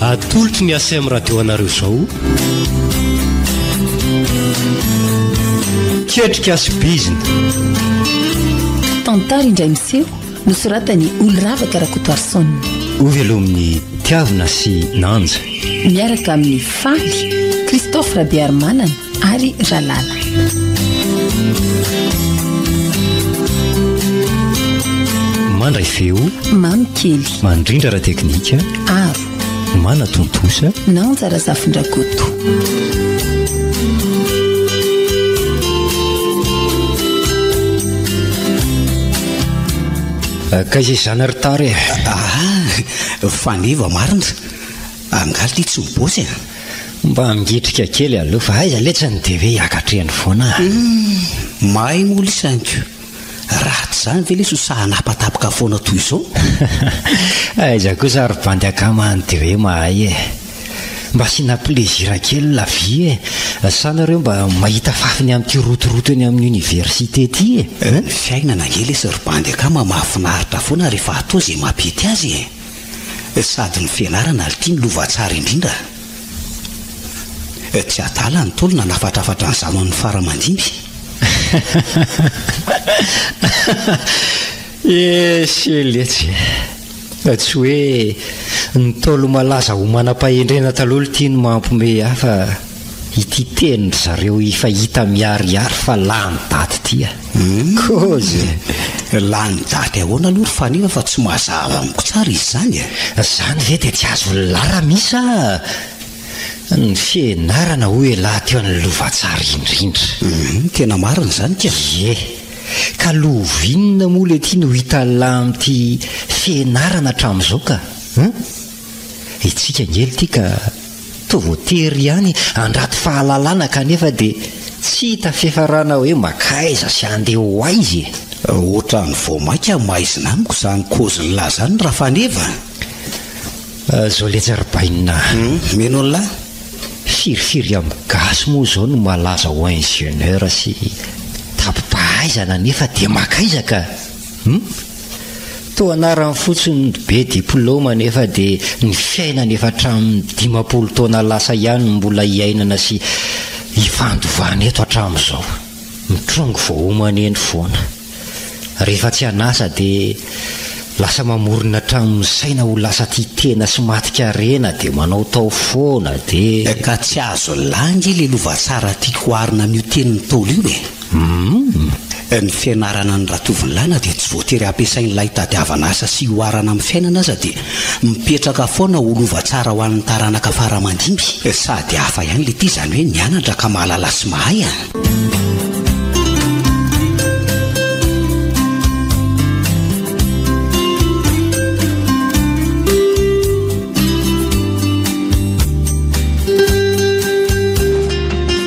Atolotry ny ACM Radio anareo izao. Ketrika sy bizina. Tantara indray miseho nosoratan'i Oloravaka Rakotoarison. Hovelomin'ny tiavina sy nanja. Miaraka amin'ny faly Christophe Rabearimanana. ary ralala mandray feo mamy kely mandrindra ra teknika aro mana tontosa nanjara zafindrakoto ka izay zana ry tary e ah, ah, ah, faneva marina Angaha ity tsy ny boss e? Mba migitrika kely aloha fa aiza letsy ny DV ankatrehany foana a! Humm! Mahay moa lesy Anko! Raha tsy izany ve lesy ho sahy hanapatapaka foana toy izao? Aiza kosa ry bandy akama any DV mahay e! Mba asiana plaisir kely la vie e! Sa nareo mba mahita fafiny amin'ity rotoroto eny amin'ny université ity e? Ny fiainana ange lesy ry bandy akama mahafinaritra foana rehefa atao izay mampety azy e! Sady ny fianarana ary ity ny lova tsara indrindra. Tsy adala ny Ntaolo nanafatrafatra ny zanany ny fara aman-dimy. Ese letsy. Tsy hoe ny Ntaolo malaza ho manam-pahendrena taloha ity no mampiomehy ahy fa. Ity teny ry zareo efa hita miharihary fa lany daty ity a! Kozy e! Lany daty ahoana aloha ry Faniva fa tsy mazava amiko tsara izy izany e! Izany ve dia tsy azon'ny larami sa ny fianarana hoy elah teo ny lova tsara indrindra? Hum, tena marina izany ka! Ie! Ka lova inona moa le ity no hitan'ny lahy amin'ity fianarana hatramin'izao ka? Hum! Hetsika angely ity ka! Toa voatery ihany handrato fahalalana kanefa dia tsy hita fiafarana hoe mankaiza sy handeha ho aiza e! Ohatran'ny vao maika maizina amiko izany kôzillah izany Rafaneva a! Zao letsy ry Bainina a! Mino an'lah! Firifiry amin'ny gasy moa izao no malaza ho ingénieur sy tapipahaizana nefa dia mankaiza ka! Hum? Toa anarany fotsiny ny be diplôma nefa dia ny fiainana efa hatramin'ny dimampolo taona lasa ihany no mbola hiainana sy hifandovana eto hatramin'izao. Mitrongy vao homany eny foana. Rehefa tsy an'asa dia lasa mamorona hatramin'ny saina ho lasa tia tena sy maty karena dia manao tao foana dia. Ka tsy azo lainga ilay lova tsara tiako oharina amin'io tenin'ny Ntaolo io e! Humm, ny fianarana an'i Ratovolana dia tsy voatery ampiasain'ilay hitadiavana asa sy hihoarana amin'ny fiainana aza dia mipetraka foana ho lova tsara ho an'ny taranaka fara aman-dimby. Sady hafa ihany le ty izany hoe nianatra ka mahalala sy mahay an!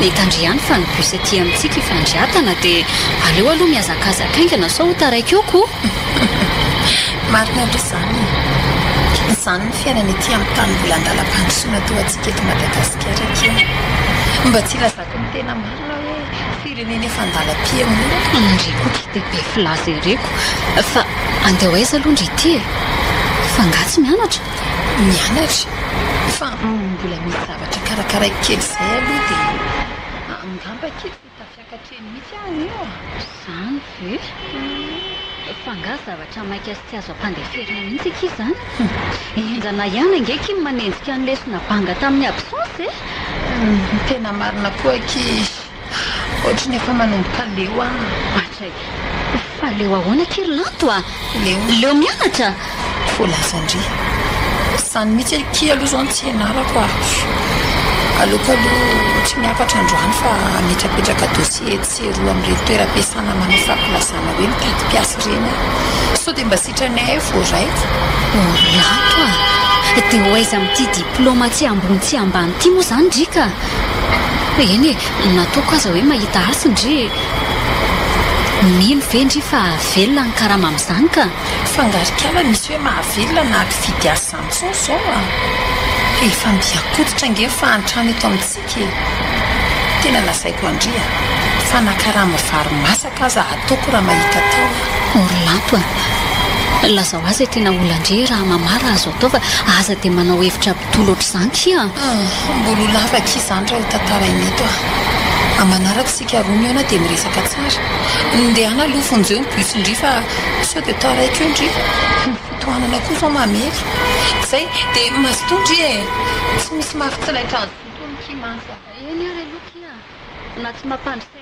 Mitandry ihany fa ny bus aty amintsika efa andry atana dia aleo aloha mihazakazaka haingana sao ho taraiky eo ko! Marina aloha izany e! Izany ny fiainana ety amin'ny tany mbola an-dalam-pandrosoana toa antsika eto Madagasikara aky e! Mba tsy ilazako ny tena marina hoe firenena efa an-dalam-pihaonana. Ndry ko ity dia be filaza ery ko! Fa andeha ho aiza aloha ndry ity e! Fa angaha tsy mianatra? Mianatra? Fa mbola misy zavatra. Mba karakaraiko kely izay aloha dia angamba kely vao tafiakatra eny mihitsy aho io a! Izany ve? Fa angaha zavatra maika sy tsy azo ampandeferina mihitsy akia izany? Henjana ihany ange akia ny manenjika ny lesona banga tamin'ny absence e! Tena marina koa akia. Otriny efa manomboka leo an! Matra e! Fa leo ahoana akia ry Lanto a! Leo mianatra? Voalazan-dry. Izany mihitsy akia aloha izao no tsy ianarako ary aleoko aloha tsy miakatra androany fa hametrapetraka dossier etsy sy eroa amin'ireny toeram-piasana manao fampilazana hoe mitady mpiasa ireny aho. Sao dia mba sitranay ahy vao raiko? Oh ry Lanto a! Dia ho aiza amin'ity diplaoma tsy ambony tsy ambany ity moa izany ry ka? Eny e, na toa koa aza hoe mahita hasiny ry e! Mino ve ndry fa velona ny karama amin'izany ka! Fa angaha ry kala misy hoe mahavelona na mpifidy asa izany intsony izao a! Efa miha-koditra ange ny fahantrana eto amintsika e! Tena lazaiko an-dry a! Fa na karama vary masaka aza ataoko raha mahita atao a! Orlamp a! Lazao azy e! Tena olandry e! Raha mamarra azo atao fa aza dia manao hevitra Toa loatr'izany tia an! Humm, mbola ho lava akia izany raha hotantaraina eto an! Amin'ny manaraka isika roa mihaona dia miresaka tsara. Ndehana aloha vonjeo ny bus ndry fa sao dia taraiky eo ndry. Humm, tohanana koa izao mamely. Izay, dia mazotoa ndry e! Tsy misy mafy tsy laitran'zoto hono ki mantsy an! Eny ary aloha ki an! Na tsy mampandry saina.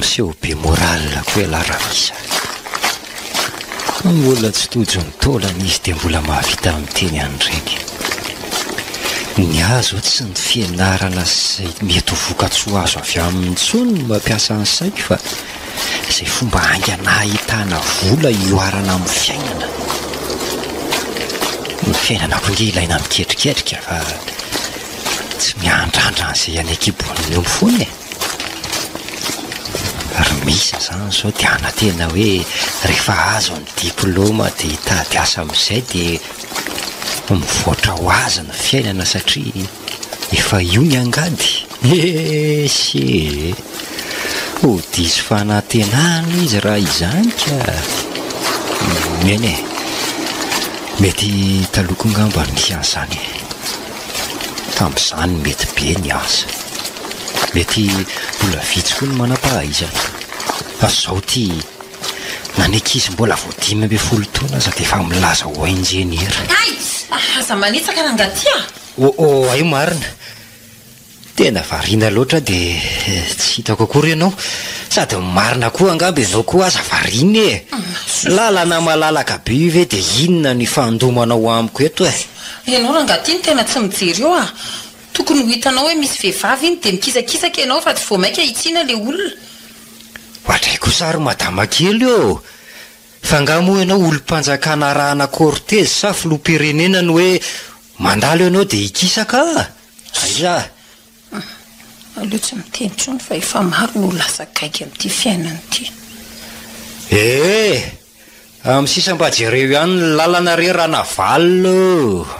Miseho be moral koa ialahy Ramisa. Ny olona tsy tojo ny taolana izy dia mbola mahavita miteny an'ireny. Ny ahy izao tsy ny fianarana sy izay mety ho vokatsoa azo avy aminy intsony no mampiasa ny saiko fa izay fomba haingana hahitana vola hihoarana amin'ny fiainana. Ny fiainana koa ange ilaina miketriketrika fa tsy miandrandra an'izay any an-kibohan'ny omby foana e! Ary misy izany izao dia hanantena hoe rehefa azo ny diplaoma dia hitady asa amin'izay dia mivoatra ho azy ny fiainana satria. Efa io ny angady? Ese e! Ho diso fanantenana izy raha izany ka! Eny e! Mety taloha angamba no nisy an'izany e! Tamin'izany mety be ny asa. Mety mbola vitsy koa ny manam-pahaizana. Fa izao ity, na ny ankizy mbola vao dimy ambin'ny folo taona aza dia efa milaza ho injeniera. Aids! Aza manitsaka rangahy ty a! Oh oh hay marina. Tena variana loatra aho dia tsy hitako akory ianao. Sady marina koa angamba izao koa aza variana e. Lalana malalaka be io ve dia inona no ifandomanao amiko eto e. Ianao rangaha ity no tena tsy mijery eo ah. Tokony ho hitanao hoe misy vehivavy iny dia mikisakisaka ianao fa tsy vao maika hitsiana ilay olona. Ohatray kosa ary madama kely ô. Fa angaha moa ianao olom-panjakana arahana cortège sa filoham-pirenena no hoe mandalo ianao dia hikisaka ah! Aia! Aleo tsy miteny intsony fa efa maro no lasa gaigy amin'ity fiainana ity. Ee! Amin'ny sisa mba jereo ihany ny lalana re Ranavalona o!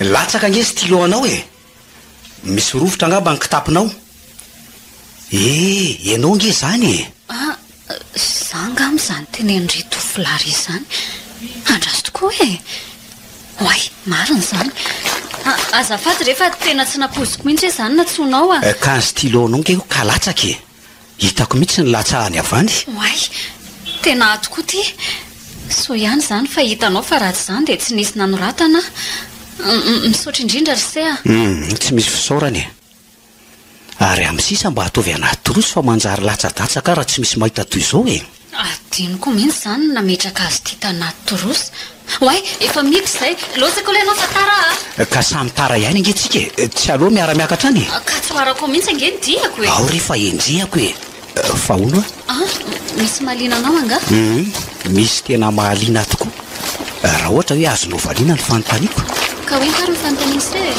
Latsaka ange stylo anao e! Misy rovitra angamba ny kitapinao. Eh, ianao ange izany e! Ah, za angamba izany tenenindry Tofolary izany. Andraso tokoa e! Oay, marina izany. Ah, azafady re fa tena tsy nampoiziko mihitsy hoe izany natsoinao ah. Eh, ka ny stylo anao ange ka latsaka e! Hitako mihitsy ny latsahany avy any. Oay, tena ato koa ity. Soa ihany izany fa hitanao fa raha tsy izany dia tsy nisy nanoratana aho. Misaotra indrindra ry Sea. Hum, tsy misy fisaorana e. Ary amin'ny sisa mba ataovy anaty trousse fa manjary latsadatsaka aho raha tsy misy mahita toy izao e. Adinoko mihitsy izany ny nametraka azy ity tanaty trousse. Oay, efa miditra izay. Laozako ilay anao fa tara a! Ka samy tara ihany ange tsika e! Tsy aleo miara-miakatra any e! Ka tsy ho arako ao mihitsy ange ny diako e! Ao re fa enjehako e! Fa hono a! A! Misy mahaliana anao angaha? Humm! Misy tena mahaliana tokoa! Raha ohatra hoe azonao valiana ny fanontaniako? Ka hoe ingahy ireo fanontaniana miseho e?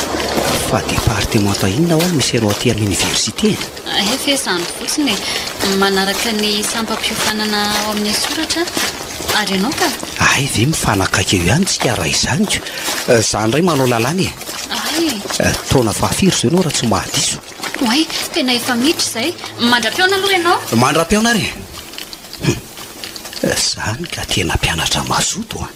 Fa departemanta inona ho'a no misy anao aty amin'ny oniversite e? Hay ve izany fotsiny e! Manaraka ny sampam-piofanana ao amin'ny soratra ary ianao ka? Hay ve mifanakaiky eo ihany tsika raha izany ka! Za indray manao lalàna e! Hay! Taona fahafiry izao ianao raha tsy mahadiso? Oay! Tena efa miditra izay! Mandra-pihaona aloha ianao! Mandra-pihaona ary e! Hum! Izany ka tena mpianatra mazoto an!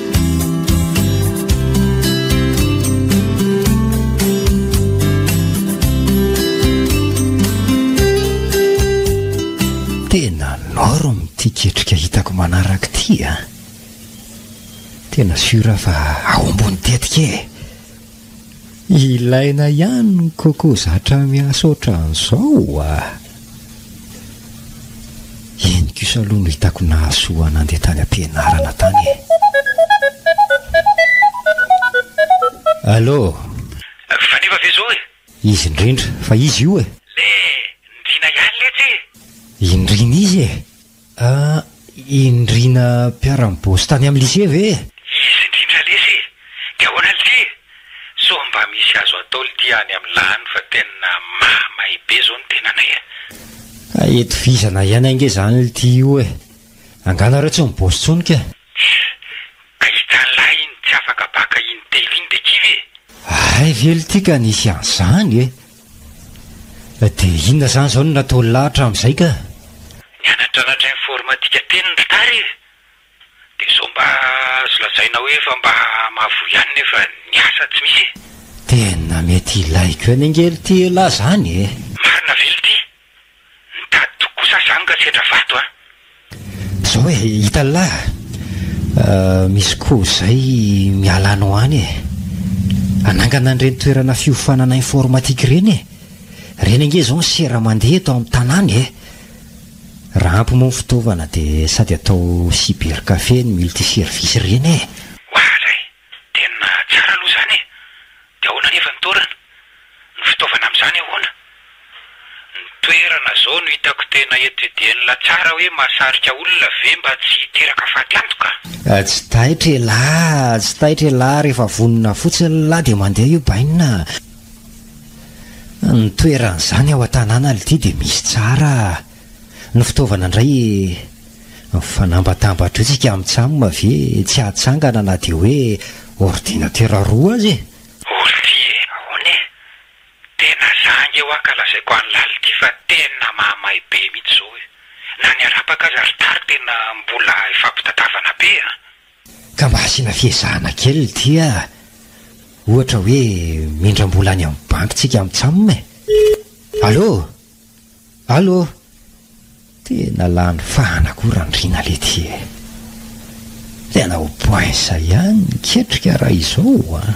Tena norme ity ketrika hitako manaraka ity a. Ah. Tena sûr fa ao ambony tetika e. Ilaina ihany ny coco zatra miasa ohatran'izao a! Iny kosa aloha no hitako nahasoa nandeha tany am-pianarana tany e! Allo! Faneva ve zao e? Izy indrindra, fa izy io e! Le ndriana ihany letsy e! Indriana izy e! Ah, i Ndriana mpiara-miboss tany amin'ny lycée ve e? Izy indrindra lesy e! Dia ahoana lty e! Sao mba misy azo atao lty any amin'ny lany fa tena mahamay be zao ny tenanay a! Hay itovizana ihany ange izany lty io e! Angaha nareo tsy miboss tsony ka? Tch! Ahitsa lahy iny tsy afaka baka in telo iny dia kivy e! Hay ve lty ka nisy an'zany e! Dia inona zany zao no nataony lahy hatramin'izay ka? Nianatranatra informatika teny ny mpitary e! Dia zao mba azo lazaina hoe efa mba mahavoa ihany nefa ny asa tsy misy e! Tena mety ilaiko ihany ange lty elah zany e! Marina ve lty? Mitady toky kosa aho izany ka tsy hetra vato an! Zao e, italahy a! Misy koa izay miala any ho any e! Hanangana an'ireny toerana fiofanana informatique ireny e! Ireny ange izao ny sera mandeha eto amin'ny tanàna e! Raha ampy moa ny fitaovana dia sady atao cybercafé ny multiservice ireny e! Waah zay! Tena tsara aloha izany e! Dia ahoana anefa ny toerana? Ny fitaovana amin'izany ahoana? Ny toerana izao no hitako tena étudier-na tsara hoe mahasarika olona ve mba tsy hiteraka fatiantoka? Tsy taitra elah, tsy taitra elah, rehefa vonona fotsiny lah dia mandeha io bainina a! Ny toerana izany ao an-tanàna lty dia misy tsara a! Ny fitaovana indray e! Mifanambatambatra eo tsika amin'ny cam ve tsy hatsangana na dia hoe ordinatera roa aza e! Oldia e! Ahoana e! Tena zanga io an ka lazaiko any lality fa tena mahamay be mihitsy zao e! Na ny arapaka aza ry tary tena mbola ifampitadiavana be an! Ka mba asiana fiezahana kely dia ohatra hoe mindram-bola any amin'ny banky tsika amin'ny cam e! Allô? Allô? Tena lany fahana koa Randriana lety e! Tena ho poinsa ihany ny ketrika raha izao an!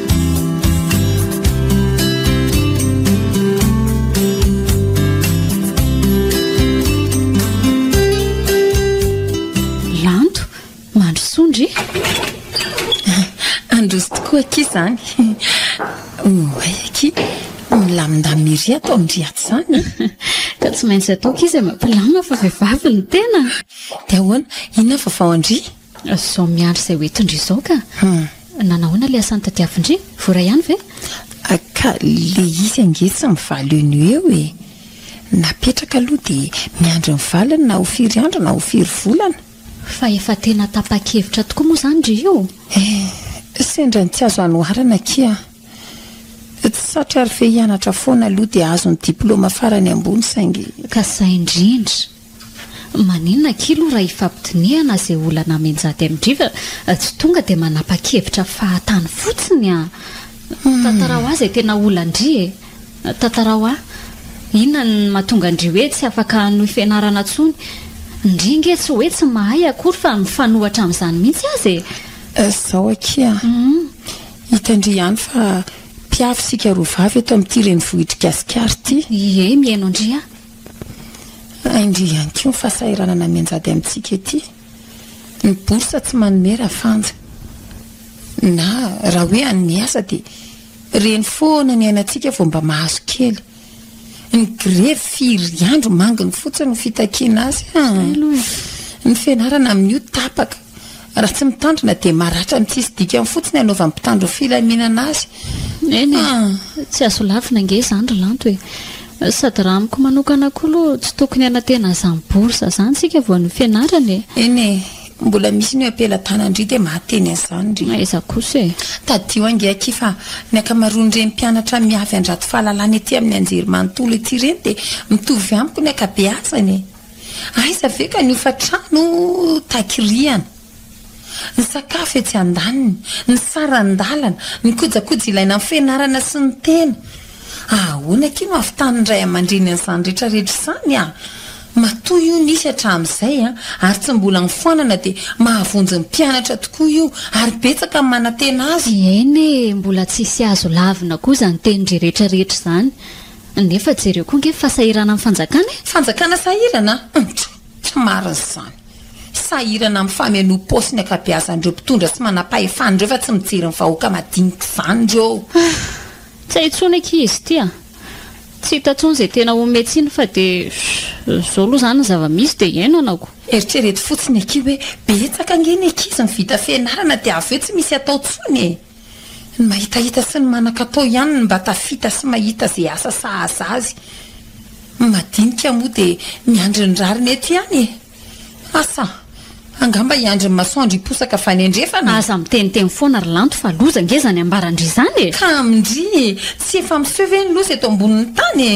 ry atao ny ry ato izany ka tsy maintsy ataoko izy e, mampilama fa vehivavy ny tena dia ahoana inona fa vao andry Zao miandry izay ho entindry izao ka. Nanao ahoana ilay asan'ny tadiavindry? Voaray ihany ve? Ka le izy ange tsy mivaly eo no eo e! Napetraka aloha dia miandry ny valiny na ho firy andro na ho firy volana. Fa efa tena tapa-kevitra tokoa moa izany ry io? Eh, sendra ny tsy azo anoharana akia an! Tsy satry ary fe hianatra foana aloha dia ahazo ny diplaoma farany ambony saingy. Ka zay indrindra! Maninona akia loha raha ifampidinihana izay olana amin-jaty amin-driva tsy tonga dia manapa-kevitra fahatany fotsiny a! Tantarao ahy izay tena olan-dry e! Tantarao ahy! Inona no mahatonga an-dry hoe tsy afaka hanohy fianarana intsony? Ndry nge tsy hoe tsy mahay akory fa mifanohatra amin'izany mihitsy aza e! Izao akia a! Hitan-dry ihany fa mpiavy isika roa vavy eto amin'ity renivohitr'i Gasikara ity! Ie, mihaino an-dry aho! Indrindra ihany koa ny fahasahiranana mianjady amintsika ety. Ny bourse tsy manome rafanja. Na raha hoe any miasa dia reny foana ny ainantsika vao mba mahazo kely. Ny grevy firy andro manginy fotsiny no fitakiana azy an! Ny fianarana amin'io tapaka. Raha tsy mitandrina dia maratra ny tsisy dikany fotsiny anaovan'ny mpitandro ny filaminana azy. Eny e, tsy azo lavina ange izany ry Lanto e. Sady raha amiko manokana koa aloha tsy tokony hanantena izany bourse izany isika vao ny fianarana e. Eny e, mbola misy ny am-pelatanandry dia mahateny an'izany ry. Aiza kosa e. Tadidio ange akia fa ny ankamaroan'ireny mpianatra miavy handrato fahalalana ety amin'ny anjerimanontolo ety ireny dia mitovy amiko ny ankabeazany e. Aiza ve ka ny hofantrano takirihana, ny sakafo etsy andaniny, ny saran-dalana, ny kojakoja ilaina amin'ny fianarana sy ny tena. Ahoana akia no havitan'ny ray aman-dreny an'izany rehetra rehetra izany a! Matoa io nisy hatramin'izay a, ary tsy mbola nifoanana dia mahavonjy ny mpianatra tokoa io, ary betsaka ny manantena azy. Eny e, mbola tsisy azo lavina koa izany tenin-dry rehetra rehetra izany. Nefa jereo koa nge fa sahirana amin'ny fanjakana e! Fanjakana sahirana? Ntsoo! Tsy marina izany. Sahirana amin'ny famenoam-paosy ny ankabeazan'ireo mpitondra tsy manam-pahefana ireo fa tsy mijery ny vahoaka madinika izany ireo. Ah! Tsy hay intsony akia izy ity a! Tsy hita intsony izay tena homehy tsiny fa dia izao aloha izany ny zava-misy dia iainanako. Eritrereto fotsiny akia hoe betsaka ange ny ankizy no vita fianarana dia avy eo tsy misy atao intsony e! Ny mahitahita sy ny manan-katao ihany no mba tafita sy mahita izay asa sahaza azy. Ny madinika moa dia miandry ny rariny eto ihany e! Asa! Angamba hiandry ny masoandro hiposaka fanendrefana e! Aza miteniteny foana ry Lanto fa loza ange izany ambaran-dry izany e! Ka amin-dry, tsy efa miseho ve ny loza eto ambonin'ny tany e!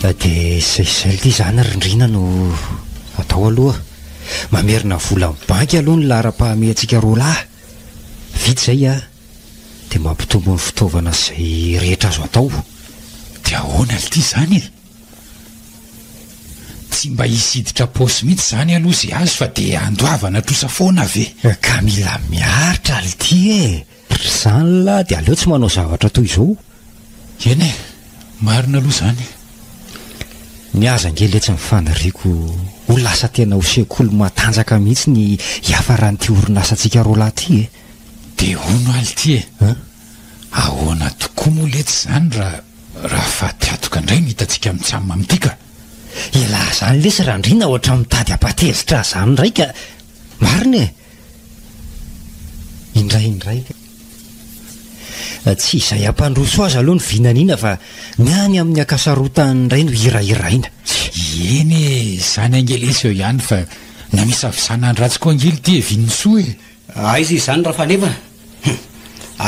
Dia izay sy izay ity zany rindrina no atao aloha. Mamerina vola amin'ny banky aloha ny laharam-pahamehantsika roa lahy. Vita izay an, dia mampitombo ny fitaovana sy izay rehetra azo atao. Dia ahoana ity izany e? Tsy mba hisidika paosy mihitsy izany aloha izay azo fa dia handoavana trosa foana ve? Ka mila miaritra ity e! Ry zany lahy dia aleo tsy manao zavatra toy izao o! Eny e! Marina aloha izany. Ny azy ange letsy ny faniriako ho lasa tena ho sekoly matanjaka mihitsy ny hiafaran'ity orinasantsika roalahy ity e! Dia hono aho lty e! Ahoana tokoa moa letsy izany raha raha fatiatoka indray no hitantsika mitsam amin'ity ka! Elah izany lesy Randriana ohatran'ny mitady hampatezitra ahy izany indray ka! Marina e! Indraindraika. Tsy izay hampandroso azy aloha ny vinaniana fa ny any amin'ny ankasarotany indray no hirahiraina. Eny e, izany ange lesy eo ihany fa namisavisana an'i Ratsy koa ange ily ty e Vinisoa e. Aiza izany Rafaneva a!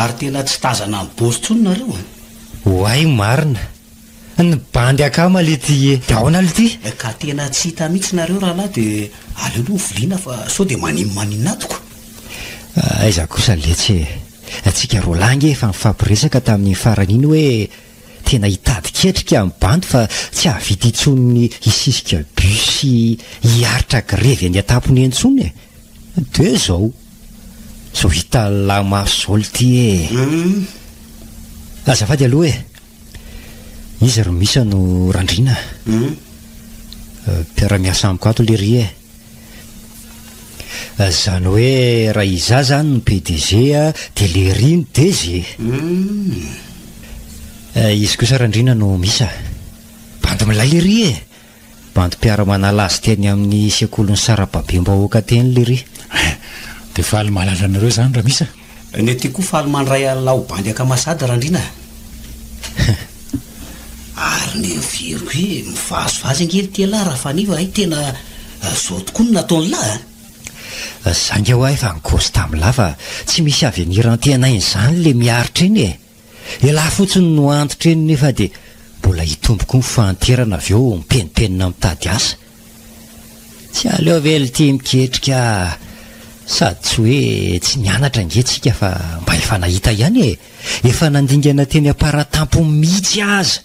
Ary tena tsy tazana mibozo intsony nareo a! Oay marina. Ny bandy akama le ty e! De aona le ty? Ka tena tsy hita mitsy nareo rahalahy de aleo aloha hoviliana fa sao de manin manin ato ka. Aiza kosa letsy e! Antsika roa lahy nge efa nifampiresaka tamin'iny farany iny hoe tena hitady ketrika ny bandy fa tsy hahavita intsony ny hisisika bus sy hiaritra grevy eny an-tampony eny intsony e! De zao! Zao hitan'ny lahy maso zao le ty e! Azafady aloha e! Iza ry Misa no Randriana a? Hum. Mpiara-miasa amiko ato lery e. Zany hoe raha izaho zany no PDG a, dia lery no DG. Hum. Izy kosa Randriana no Misa. Bandy milay lery e. Bandy mpiara-manala azy teny amin'ny sekolin'ny sarababem-bahoaka teny lery. Hein! Dia faly mahalala anareo izany raha misy a! Ny aty koa faly mandray alina ho bandy ankamasady Randriana a! Hein! Ary ny very hoe mivazivazy ange ry Tialahy raha faneva hay tena izao tokoa no nataon'i Lahy a! Zay nga ho'a efa nigosy tamin'i Lahy fa tsy misy avenirantenainy izany ilay miaritra iny e! Elah fotsiny no antitra eny nefa dia mbola hitombo koa ny fahanterana avy eo mipenipenina mitady asa. Tsy aleo ve lty miketrika sady tsy hoe tsy nianatra ange tsika fa mba efa nahita ihany e! Efa nandingana teny am-paratampo mitsy aza!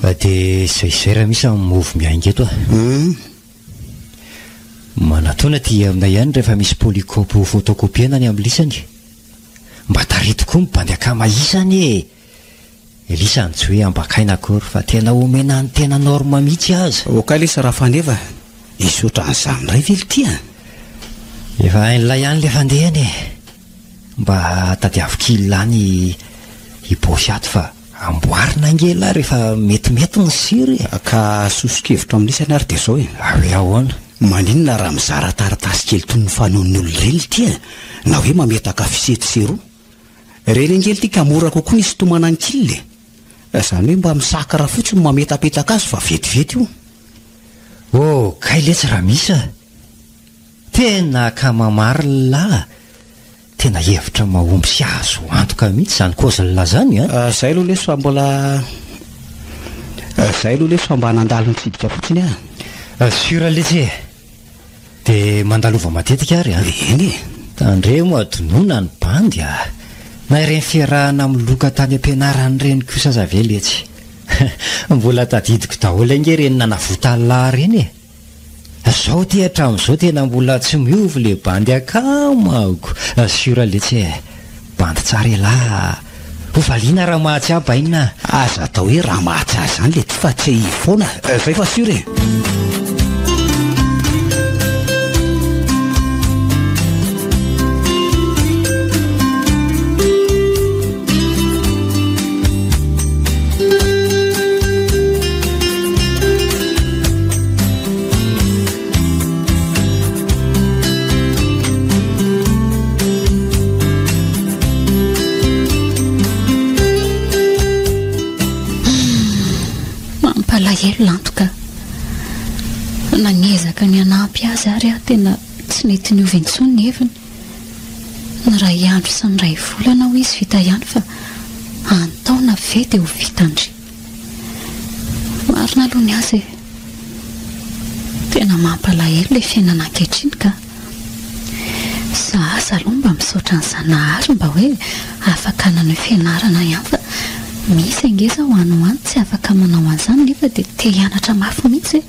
Fa dia izay izay raha misy amin'ny move miainga eto a! Manatona aty aminay ihany rehefa misy polycope ho photocopie-na ny amin'ny lisany. Mba tarity koa ny bandy akama isa anie e! Elisa any tsy hoe ambakaina akory fa tena omena ny tena norme mihitsy aza. Ok lesy Rafaneva a! Misy otran'izany indray ve ity a! Efa hain'ilay ihany ilay fandehany e! Mba tadiavo kil any i Bosy ato fa. Amboarina ange ialahy rehefa metimety ny sira e! Ka soso-kevitra amin'ny isany ary dia izao e! Ary hoe ahoana? Maninona raha mizara taratasy kely toy ny fanaon'ny olona ireny ity e? Na hoe mametaka fisety sy roa. Ireny ange ity ka mora kokoa ny hisintomana ny kil e! Izany hoe mba misakra fotsiny mametapetaka azy fa vetivety io. Oh, kay letsy Ramisa a! Tena ka mamarilà a! Tena hevitra mahomby sy azo antoka mihitsy izany Kozla zany a! Zay aloha lesy fa mbola Zay aloha lesy fa mba nandalo nitsidika fotsiny aho. Sûr lesy e! Dia mandalova matetika ary a! Eny e! Tandremo hadinoina ny bandy a! Na ireny fiarahana amin'ny loka tany am-pianarana ireny kosa aza ve letsy! Mbola tadidiko daholo ange ireny nanavotany lahy ireny e! Zao ty hatramizao tena mbola tsy miova le bandy akamako sur le tsy eh! Bandy tsara elah ah! Ho valiana ramatsy ah bainina ah! Aza atao hoe ramatsy ah zany le ty fa tsy io foana eh! Zay fa sur eh! Mampalahelo lantoka. Nagnezaka ny hanampy azy ary aho tena tsy nety niova intsony ny heviny. Niray andro sy niray volana ho izy vita ihany fa antaona ve dia ho vitandry. Marina aloha ny azy e. Tena mampalahelo ilay fiainana ankehitriny ka. Za aza aloha mba misaotra ny Zanahary mba hoe afaka naneho fianarana ihany fa misy ange izao any ho any tsy afaka manao an'izany nefa dia te hianatra mafy mihitsy e.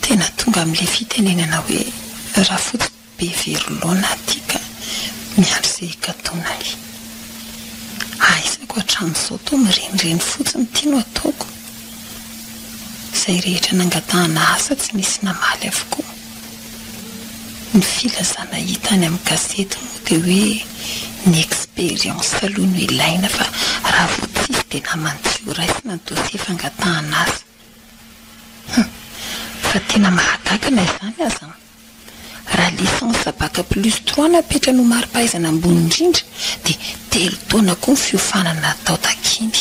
Tena tonga amin'ilay fitenenana hoe rafotsy be very laona aty ka miandry izay hikatonany. Ahaizako hatramin'izao toa mirenireny fotsiny ity no ataoko. Izay rehetra nangatahana asa tsy nisy namaly avokoa. Ny filazana hita any amin'ny gazety moa dia hoe ny expérience aloha no ilaina fa raha vao tsisy dia naman'ny tsy ho raisina ny dossier fangatahana asa. Hum! Fa tena mahagaga na izany aza an! Raha licence bac plus trois no apetrany ho mari-pahaizana ambony indrindra dia telo taona koa ny fiofanana atao takiny.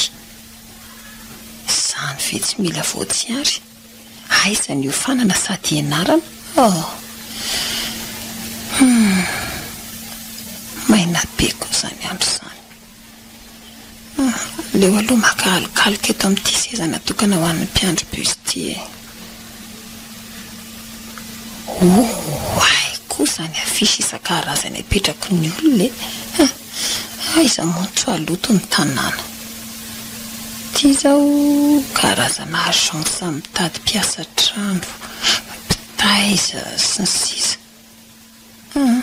Izany ve tsy mila voatsiary? Aiza ny hiofanana sady hianarana oh! Humm! Maina be koa izany andro izany. Aleo aloha maka alokaloka eto amin'ity seza natokana ho an'ny mpiandry bus ity e! Ooh! Hay koa izany affiche isan-karazany apetrako ny olona e! Aiza moa tsy haloto ny tanàna? Ity izao karazana agence mitady mpiasa an-trano, mpitaiza, sy ny sisa Hum,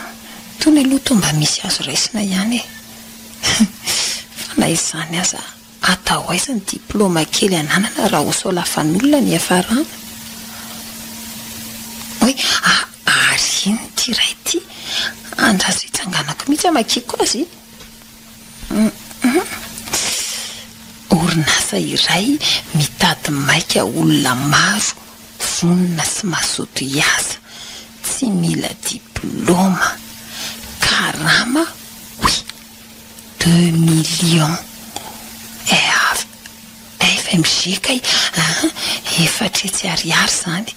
tony aloha toa mba misy azo raisina ihany e! Fa na izany aza. Atao aiza ny diplôma kely ananana raha ho solafan'olona ny hiafarana? Oay a! Ary inn ity iray ity? Andraso hitsanganako mihitsy hamakiako azy? Hum! Orinasa iray mitady maika olona maro vonona sy mazoto hiasa, tsy mila diplôma, karama, oui, Deux millions av fmg kay a! efatra hetsy ariary izany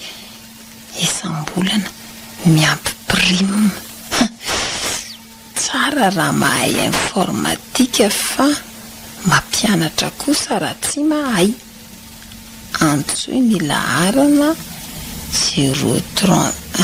isam-bolana miampy prime. Tsara raha mahay informatika fa mampianatra kosa raha tsy mahay. Antsoy ny laharana zero trente.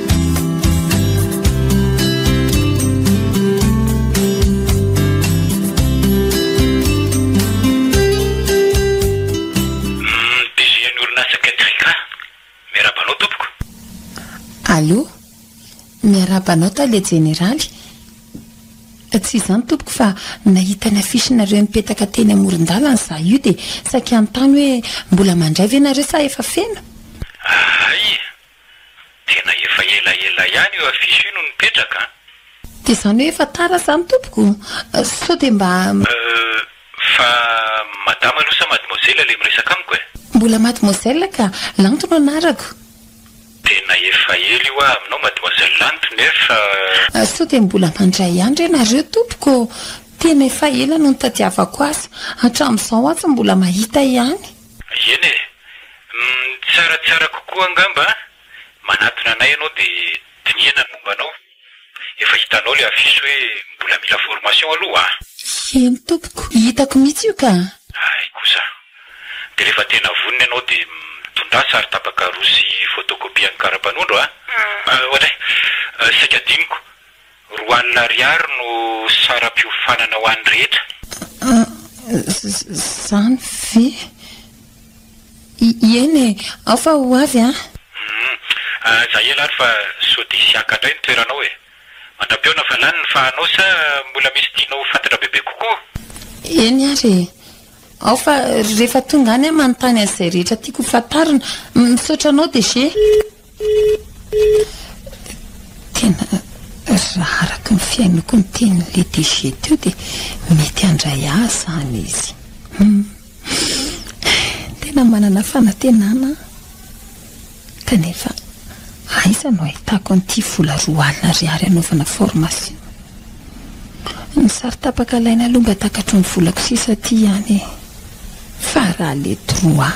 Allo, miarahaba anao tale jeneraly. Tsy izany tompoko fa nahita ny affiche nareo mipetaka teny amoron-dalana za io dia saika hanontany hoe mbola mandray ve nareo sa efa feno? Hay, Tena efa ela ela ihany io affiche io no nipetraka an! Dia izany hoe efa tara izany tompoko? Sao dia mba. Euh, fa madama aloha sa mademoiselle ilay miresaka amiko e? Mbola mademoiselle ka, Lanto no anarako. Tena efa ela io aho aminao mademoiselle Lanto nefa. Sao dia mbola mandray ihany re nareo tompoko? Tena efa ela no nitadiavako azy, hatramin'izao atsy mbola mahita ihany. Eny e! Ny tsaratsara kokoa angamba, manatona anay ianao dia dinihana ny momba anao. Efa hitanao ilay affiche hoe mbola mila formation aloha a! Eny tompoko, hitako mihitsy io ka! Hay kosa! Dia rehefa tena vonona ianao dia mitondraha saro-tapaka roa sy photocopie an'ny kara-panondro a! Ohatray! Saika adinoko! Roa alina ariary no saram-piofanana ho an'ny rehetra. Izany ve? Ieny e! Ao fa ho avy an! Humm. Aza ela ary fa sao dia hisy haka indray ny toeranao e! Mandra-pihaona fa lany ny fahanao sa mbola misy tianao ho fantatra bebe kokoa? Eny ary e! Ao fa rehefa tonga any aho manontany an'izay rehetra tiako ho fantarina. Misaotra anao DG. Tena raha araka ny fihainoako ny tenin'ilay DG teo dia mety handray ahy izany izy. Hum. Tena manana fanantenana aho. Kanefa aiza no ahitako an'ity vola roa alina ariary hanaovana formation? Ny sary tapaka alaina aloha mba takatro ny volako sisa aty ihany e. Fa raha le droit.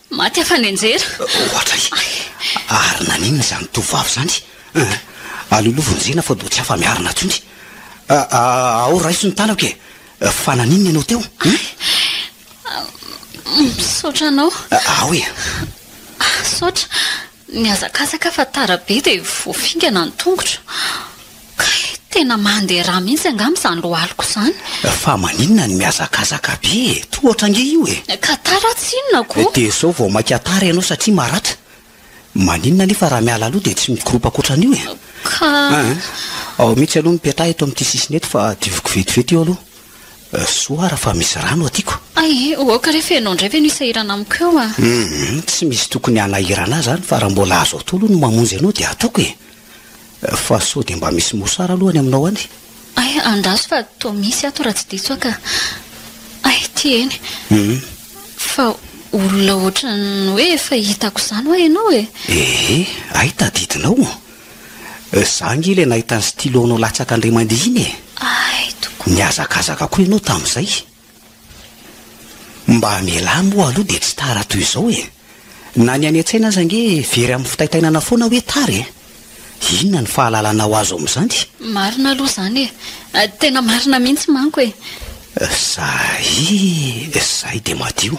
Maty afa-nianjera. Ohatra e! Ary naninona izany tovovavy izany? Aloloha vonjena fa doa tsy afa-miarina intsony. Ao raiso ny tanako e! Fa naninona ianao teo? Misaotra anao. Ao e! Misaotra. Nihazakazaka fa tara be dia voafingana ny tongotra. Kay, tena mandeha rà mihitsy angamba izany lohalika izany. Fa maninona no mihazakazaka be e? Tohatra ange io e! Ka tara tsy inona koa. Dia izao vao mainka tara ianao satria maratra. Maninona anefa raha miala aloha dia tsy mikoropaka ohatran'io e? Ka. Aa, ao mihitsy aloha ny petraha eto amin'ity sisiny eto fa dioviko vetivety io aloha. Soa ara fa misy rano aty ko. Ay eh, aoka re fa ianao indray ve no hisahirana amiko eo a! Hum, tsy misy tokony hanahirana ahy izany fa raha mbola azo atao aloha ny mamonjy anao dia ataoko e! Fa sao dia mba misy mosara aloha any aminao any? Ay, andraso fa toa misy ato raha tsy diso aho ka! Ay, ity eny! Hum! Fa olona ohatran'ny hoe efa hitako izany hoa ianao e! Ee, ay tadidinao! Za ange ilay nahita ny stylo nao latsaka andriamandihina e! Ay tokoa! Nihazakazaka koa ianao tamin'izay! Mba amelà moa aloha dia tsy tara toy izao e! Na ny any an-tsaina aza ange very amin'ny fitaitainana foana hoe tara e! Inona ny fahalalana ho azo amin'izany? Marina aloha izany e! Tena marina mihitsy manko e! Zay, zay dia madio!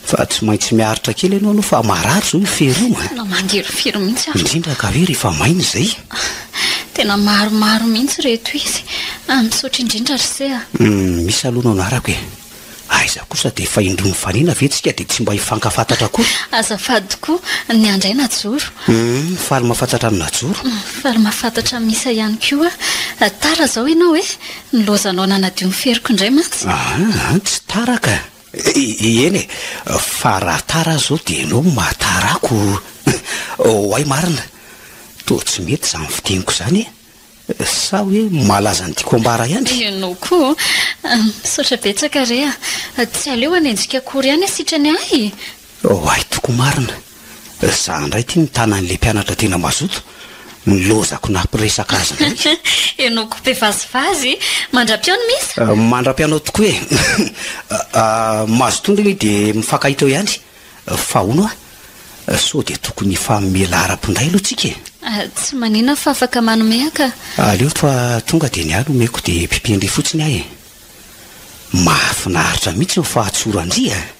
Fa tsy maintsy miaritra kely ianao aloha fa marary izao io fery io an! Tena mangirifiry mihitsy aho. Indrindra ka hoe rehefa maina izay. Tena maromaro mihitsy ireto izy. Misaotra indrindra ry se a! Misy aloha no anarako e! Aiza kosa dia efa indroa mifanena ve tsika dia tsy mba hifankafantatra akory? Azafady tokoa, ny an dray najoro. Faly mahafantatra an'i najoro. Faly mahafantatra an'i misa ihany koa aho. Tara izao ianao e! Nilaozanao nanadio ny feriko indray mantsy. Aha, tsy tara ka! Eny e, fa raha tara aza aho dia ianao no mahatarako. Oay marina, toa tsy mety izany fiteniko izany e! Sa hoe malaza ny tiako ambara ihany? Ianao koa a! Misaotra betsaka re a! Tsy aleo hanenjika akory ihany sitrany ahy e! Oay tokoa marina, za ndray ity mitana anle mpianatra tena mazoto, ny lozako nampiresaka azy ndray. Henoko be vazivazy, mandra-pihaony Miss? Mandra-pianao tokoa e! Mazotoa ndry ny de mifankahita eo ihany, fa hono hoa, sao de tokony hifanomea laharapo ndray aloha tsika e! Tsy manina aho fa afaka manome aho ka! Aleo fa tonga de ny ahy no omeko de pipian-dry fotsiny aho e! Mahafinaritra mihitsy ny fahatsoran-dry a!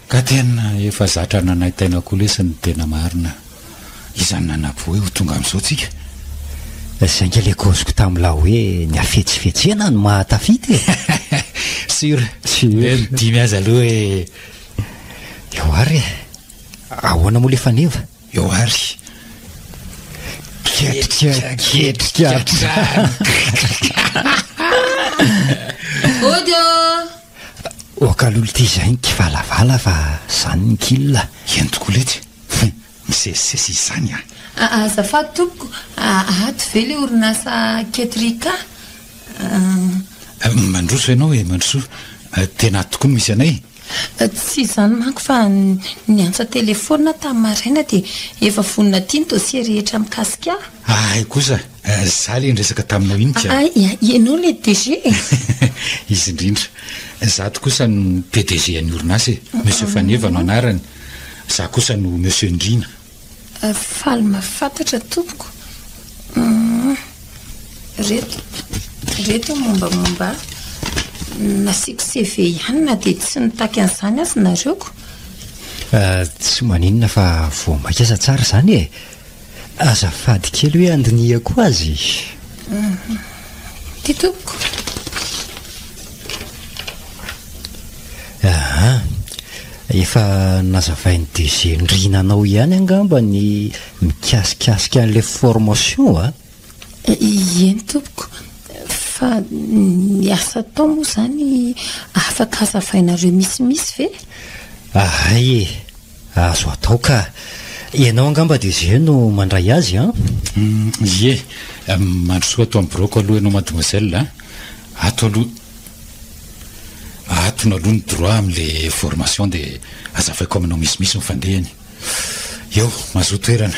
Ka tena efa zatra nanaintaina koa lesy ny tena marina. Izany nanapoe ho tonga amzao tsika. Zay nge le kaoziko tamla hoe ny hafetsifetsena no maha tafita e! Sur? Hoe ny dimy aza aloha e! Eo ary e! Ahoana moa le faneva? Eo ary! Ketrika ketrika hatrany! Audio! Oka lolo ty zay nikivalavala fa zany ny kil a! Eny tokoa lety he! Misesisesy izany a! Azafady tompoko a! Ato ve le orinasa Ketrika a? Mandroso ianao e! Mandrosoa! Tena ato tokoa no misy anay e! Tsy izany manko fa niantsa telefaonina tamin'ny maraina dia efa vonona aty ny dossier rehetra mikasika ahy. Ahay kosa, za le niresaka taminao iny ka. Ahay, ianao le DG e! Izy indrindra. Zato kosa no PDG an'ny orinasa e. Monsieur Faneva no anarany. Za kosa no Monsieur Ndriana. Faly mahafantatra tompoko. Reto, reto mombamomba ahy. Nasiako CV ihany na dia tsy nitaky an'izany aza nareo ko. Tsy maninona fa voa maika aza tsara izany e! Azafady kely hoe andinihako azy e. Ty tompoko. Aha. Efa nazavain'ny DG Ndrina anao ihany angamba ny mikasikasika an'ilay formation a? Ieny tompoko. Fa ny asa atao moa izany afaka azavainareo misimisy ve? Ahay e. Azo atao ka. Ianao angamba dia zio no mandray azy an? Ie. Mandrosoa ato amin'ny biraoko aloha ianao mademoiselle an. Ato aloha. Atony aloha ny droit amin'ilay formation dia azavaiko aminao misimisy ny fandehany. Eo, mazoa toerana.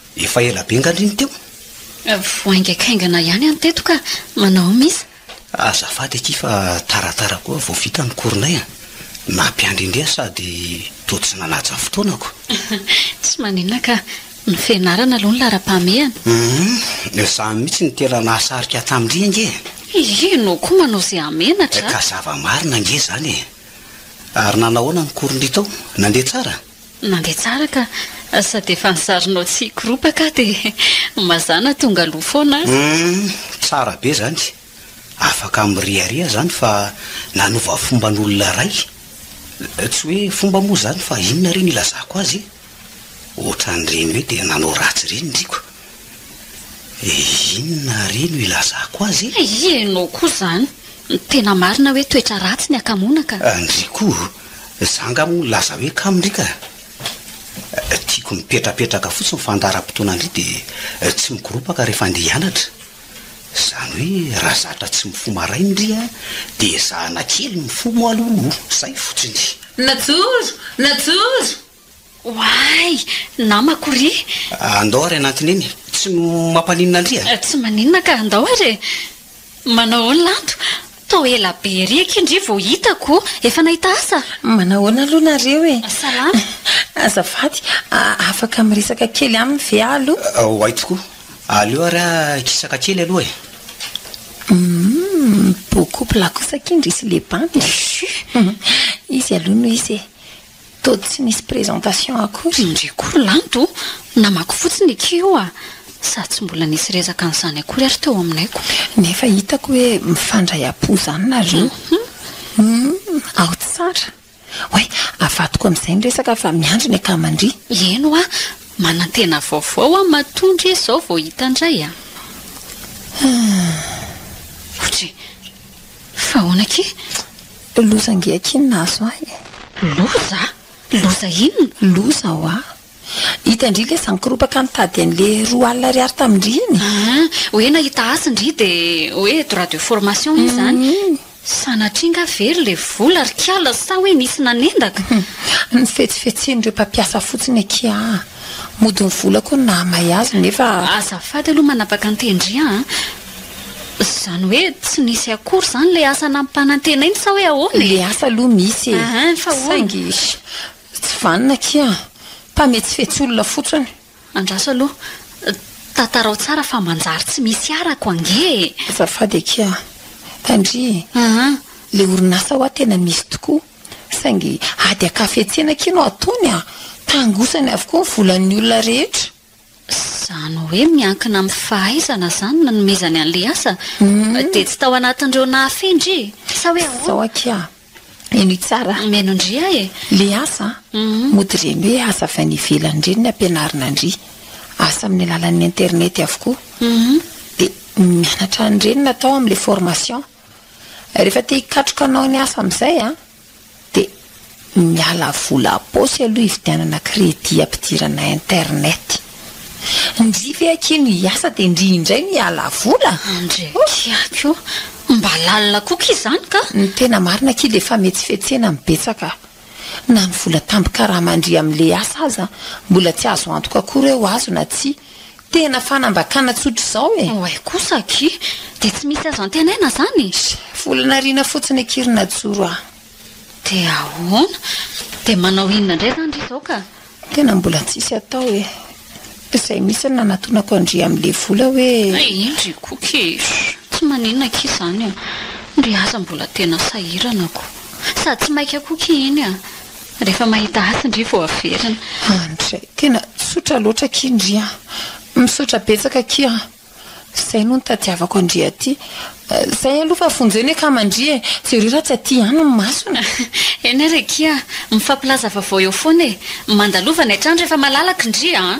Efa ela be nga ry ny teo? Voaingaikaingana ihany any teto ka. Manao aum is? Azafady akia fa taratara koa vao vita ny cours-nay a! Nampiandry indray aho sady toa tsy nanaja fotoanako. Tsy maninona ka. Ny fianarana aloha no laharam-pahamehana. Humm! Izaho mihitsy no tena nahasarika ahy tamin-dry ange e! Hihi, ianao koa manao izay hamenatra a! Ka zava-marina ange izany e! Ary nanao ahoana ny cours-ndry tao? Nandeha tsara? Mandeha tsara ka! Sady efa ny sarinao tsy hikoropaka dia mazàna tonga aloha foana a! Humm, tsara be izany! Afaka miriaria izany fa nanova fomban'olona iray. Tsy hoe fomba moa izany fa inona re no ilazako azy e? Ohatran'ireny hoe dia nanao ratsy ireny ny riko. Eh inona àry no ilazako azy eh? Ay ianao koa izany! Ny tena marina hoe toetra ratsy ny hakamoana ka! Ndry koa! Izaho angaha moa nilaza hoe kamo ndry ka! Tiako mipetrapetraka fotsiny ny fandaharam-potoana ndry dia tsy mikoropaka rehefa andeha hianatra. Izany hoe raha zatra tsy mifoha maraina ndry an! Dia ezahana kely mifoha moa aloha, izay fotsiny. Najoro! Najoro! Oay! Namako ry! Andao ary hanantona eny. Tsy mampaninona an-dry a! Tsy maninona ka andao ary e! Manao ahoana lanto? Tao ela be ery akia ndry vao hitako! Efa nahita asa? Manao ahoana aloha nareo e! Salama! Azafady, afaka miresaka kely aminy ve aho aloha? Oay tokoa! Aleo ary aho hikisaka kely aloha e! Humm! Beaucoup plat kosa akia ndry sy le bandy a! Izy aloha no hisy e! Toa tsy nisy présentation akory ndry koa lanto namaky fotsiny eky io a! Sady tsy mbola nisy resaka an'izany akory ary teo aminay ko. Nefa hitako hoe mifandray am-po zany nareo humm ao tsara! Oay avadiko amizay ny resaka fa miandry ny akama ndry. Eny hoa, manantena vaovao hoa matoa ndry izao vao hita ndray a! Humm. Otry. Fa ahoana akia? Loza ange akia ny nahazo ahy e! Loza? Loza inona? Loza hoa! Hita indry ilay izany koropaka nitady an'ilay roa alina ariary tamin-dry iny. Aa! Hoe nahita hasy ndry dia hoe droit de formation izy izany. Sanatria angaha very ilay vola ry kiala sa hoe nisy nanendaka? Ny fetsifetsen'ireo mpampiasa fotsiny akia aa! Mody ny vola koa no nahamay azy nefa. Azafady aloha manapaka an-tendry an! Izany hoe tsy nisy akory izany ilay asa nampanantenainy sa hoe ahoana e? Ilay asa aloha misy e. Ah, fa ahoana? Saingy tsy vanona akia. Mpametsifetsy olona fotsiny. Andraso aloha. Tantarao tsara fa manjary tsy misy arako ange e! Azafady akia. Tandria e. Ah. Ilay orinasa ho'a tena misy tokoa. Saingy ady an-kafetsena akia no ataony an! Tangosany avokoa ny volan'ny olona rehetra. Izany hoe miankina amin'ny fahaizana izany no nanomezany an'ilay asa? Dia tsy tao anatin'ireo nahafehy ndry? Sa hoe ahoana? Izao aky aho, menoy tsara a! Meno ndry aho e! Ilay asa mody ireny hoe asa avy any ivelany ireny ny ampianarina ndry. Asa amin'ny alalan'ny internet avokoa. Dia mianatra an'ireny natao amin'ilay formation. Rehefa te hikatroka hanao ny asa amin'izay an, dia miala vola ampaosy aloha hividianana crédit ampidirana internet. Ndry ve akia no hiasa dia ndry indray no hiala vola? Ndry akia koa. Mba lalina koa akia izany ka! Ny tena marina akia dia fametsifetsena no betsaka. Na ny vola tambin-karama ndry amin'ilay asa aza mbola tsy azo antoka koa ireo azo na tsia. Tena fanambakana tsotra izao e! Oay kosa aky! Dia tsy misy azo antenaina izany e! Volana ariana fotsiny aky ry Najoro a! Dia ahoana? Dia manao inona indray izany ry izao ka? Tena mbola tsisy atao e! Izay mihitsy no nanatonako an-dry amin'ilay vola hoe. Eny ry Koky e! Tsy maninona aky izany a! Ndry aza mbola tena sahirana ko! Sady tsy maika koky iny a! Rehefa mahita hasy ndry vao averina. Andry, tena tsotra loatra akia ndry a! Misaotra betsaka akia a! Zay no nitadiavako an-dry aty. Zay aloha fa vonjena akama ndry e! Jereo raha tsy aty ihany ny masony. Eny ary akia a! Mifampilaza vaovao eo foana e! Mandalovana hatrany rehefa malalaka ndry a!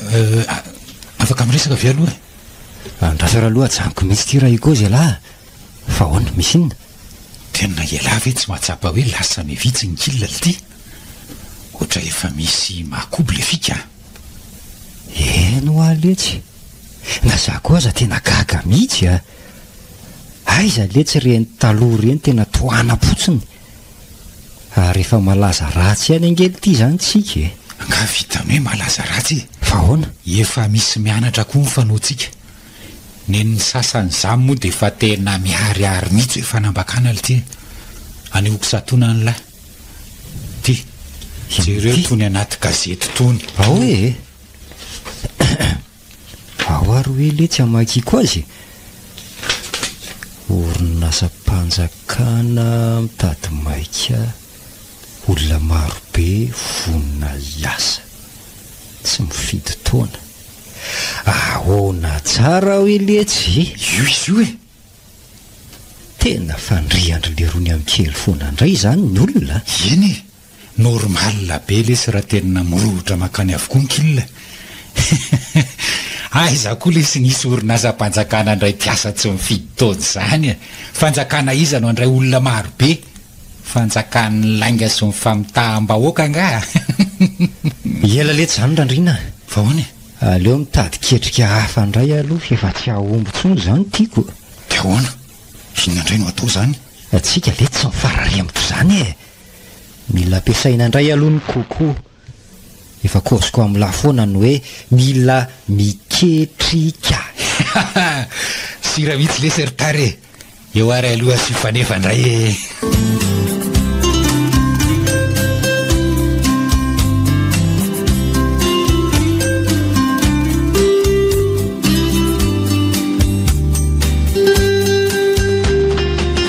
Euh, afaka miresaka avy aloha e. Andrasara aloha ajanoko mihitsy ity raha ikozy ialahy. Fa ahoana, misy inona? Tena ialahy ve tsy mahatsapa hoe lasa mivitsy ny kila ity? Ohatra efa misy mahakobo le fika. Eny ho aletsy. Na za koa aza tena gaga mihitsy a. Aiza letsy ireny taloha ireny tena tohanam-potsiny. Ary efa malaza ratsy ihany ange ity izany tsika e! Angaha vita hoe malaza ratsy e! Fa ahoana? Efa misy mianatra koa ny fanaontsika. Nen'ny sasany izany moa dia efa tena miharihary mihitsy hoe fanambakana lty e! Anehoako satoana ny lahy. Ty, jereo itony anaty gazety itony. Ao e! Ao ary hoe le tsy hamakiako azy e! Orinasam-panjakana mitady maika olona marobe vonona hiasa, tsy mifidy taona. Ahoana tsara hoe le tsy e! Io izy io e! Tena fandrian-dry Lerony amin'ny kely foana indray izany ny olona a! Eny e! Normal be lesy raha tena mirorotra makany avokoa ny kil e! Aiza koa lesy nisy orinasam-panjakana handray mpiasa tsy mifidy taona izany e! Fanjakana iza no handray olona maro be? Fanjakan'ny lainga sy ny famitaham-bahoaka angaha? Ela letsy izany Randriana a! Fa ahoana e? Aleo mitady ketrika hafa indray aloha fa efa tsy hahomby intsony izao ny tiako. Dia ahoana? Inona indray no hatao izany? Tsika ve tsy mifarary amiko izany e! Mila ampiasaina indray aloha ny Coco. Efa course ko am la foana ny hoe mila miketrika. Sira mihitsy lesy ry Tary e! Eo ary aloha sy fanefa indray e!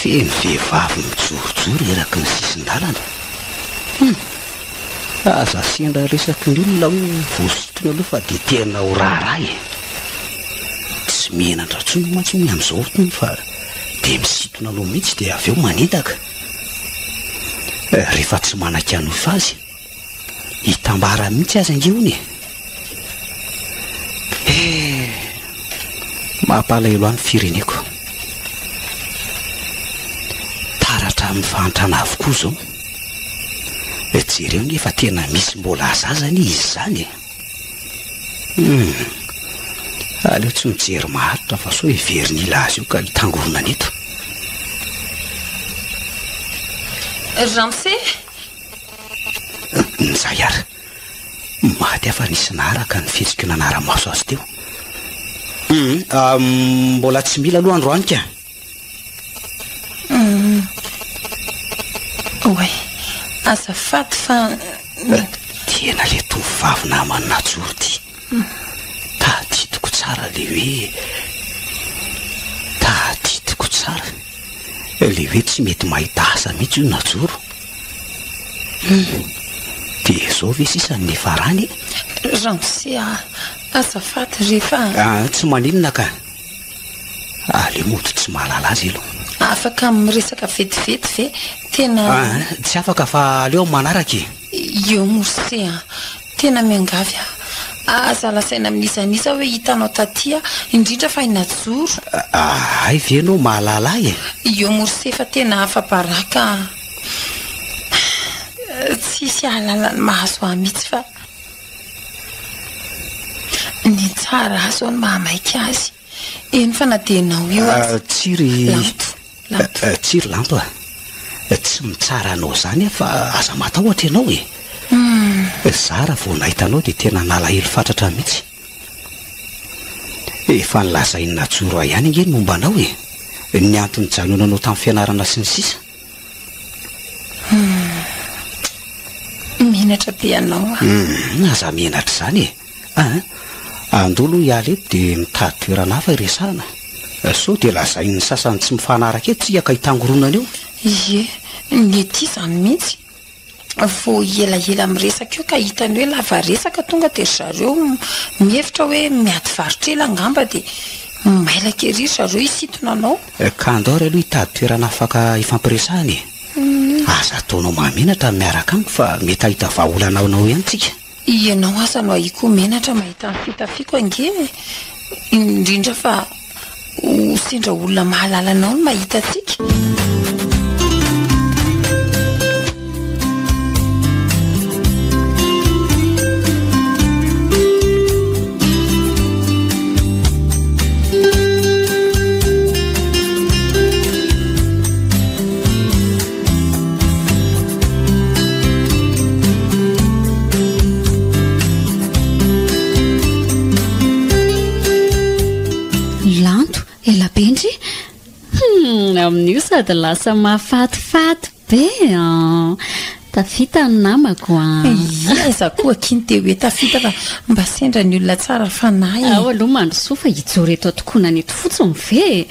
Feno vehivavy mijorojoro eraky ny sisin-dalana. Hum! Aza sendra resaky ny olona hoe vao sintonina aloha fa dia tena ho raharaha e! Tsy mihenatra intsony mantsy hono amin'izao hono fa dia misintona aloha mihitsy dia avy eo manendaka. Rehefa tsy manan-kianofa azy Hitambara mihitsy aza ange hono e. Eh, mampalahelo ahy ny fireneko. Taratra amin'ny fahantrana avokoa izao. Eh, jereo anie fa tena misy mbola aza aza anie izy izany e. Hmm. Aleo tsy mijery maharitra fa sao heverin'ila azy io ka hitangoronana eto. Ramse, Izay ary, maty afa nisy naharaka ny fihetsiko nanara-maso azy teo. Mbola tsy mila aloha androany ka. Oay, azafady fa... Tena le tovovavy naman'ny najoro ty. Tadidiko tsara le hoe... Tadidiko tsara le hoe tsy mety mahita asa mihitsy io najoro. Dia izao ve sisa ny farany e? Ramose a, azafady ry fa... Ah, tsy maninona ka. Aleo mody tsy mahalala azy aloha. Afaka miresaka vetivety ve? Tena... Ah, tsy afaka fa aleo amin'ny manaraka e. Io Morse a. Tena miangavy aho. Aza lazaina amin'iza n'iza hoe hitanao taty aho, indrindra fa i Najoro. Hay ve ianao mahalala ahy e? Io Morse efa tena afa-baraka an! Tsy hisy hahalala ny mahazo ahy mihitsy fa ny tsara ahy izao no mahamaika azy. Eny fa na dia ianao io aza. Tsia ry. Lampo. Tsirylampa, tsy mitsara anao izany aho fa aza matahotra ianao e! Izaho raha vao nahita anao dia tena nalahelo fatratra mihitsy. Efa nolazain'i Najoro ahy ihany ange ny momba anao e! Ny antony nijanonanao tamin'ny fianarana sy ny sisa. Menatra be ianao an! Aza menatra izany e! Aa! Andao aloha hiala eto dia mitady toerana hafa hiresahana. Sao dia lazain'ny sasany tsy mifanaraka eto isika ka hitangoronana eo. Ie, ny ety izany mihitsy. Vao elaela miresaka eo ka hitany hoe lava resaka tonga dia ry zareo mihevitra hoe miady varotra ela angamba dia mailaka ery ry zareo hisintona anao. Ka andao ary aloha hitady toerana afaka hifampiresahana e! Aza ataonao mahamenatra ny miaraka amiko fa mety hahita vahaolana ao anao ihany isika. Ianao aza no ahiako menatra mahita ny fitafiako ange e! indrindra fa ho sendra olona mahalala anao no mahita antsika. amin'io sady lasa mafatifaty be an tafita ny namako an ia za koa kiny te hoe tafita fa mba sendra ny olona tsara fanahy ao aloha mandrosoa fa hijoro eto tokoana ny eto fotsiny ve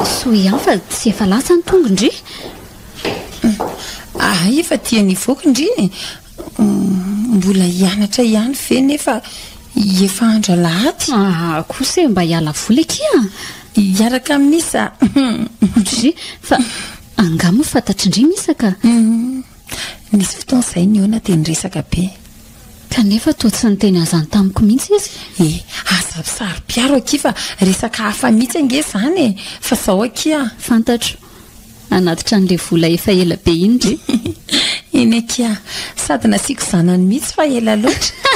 Soa ihany fa tsy efa lasa ny tongo ndry Ahay efa tia ny voky ndry e Mbola hianatra ihany ve nefa efa andro alahady Aha kosa e mba hiala voly akia Hiaraka amin'i Misa Ndry fa angaha moa fantatry ndry Misa ka Nisy fotoana izahay nihaona dia niresaka be. Kanefa toa tsy niteny an'izany tamiko mihitsy izy. Eh, aza misaro-piaro akia fa resaka hafa mihitsy ange izany e! Fa izao akia. Fantatro. Hanatitra an'ilay vola efa ela be iny re. Eny akia. Sady nasiako zanany mihitsy fa ela loatra.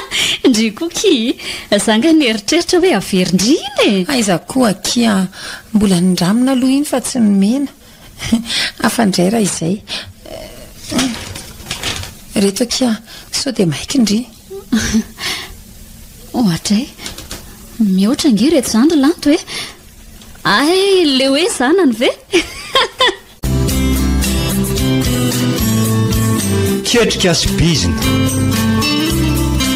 Ndry koa kii. Za ange nieritreritra hoe averin-dry iny e! Aiza koa akia. Mbola nindramina aloha iny fa tsy nomena. Hafa indray raha izay. Ireto akia, sao dia maika ndry. Ohatra e. Mihoatra ange ireto izany ry lanto e. Ay, le hoe zanany ve? Ketrika sy bizina.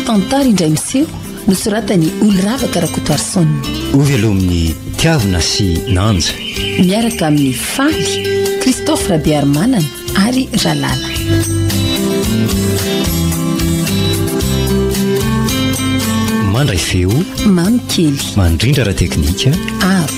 Tantara indray miseho. Nosoratan'i Oloravaka Rakotoarison. Hovelomin'ny Tiavina sy Nanja. Miaraka amin'ny Faly, Christophe Rabearimanana ary Ralala. Mandray feo. Mamy kely. Mandrindra ara teknika. Aro.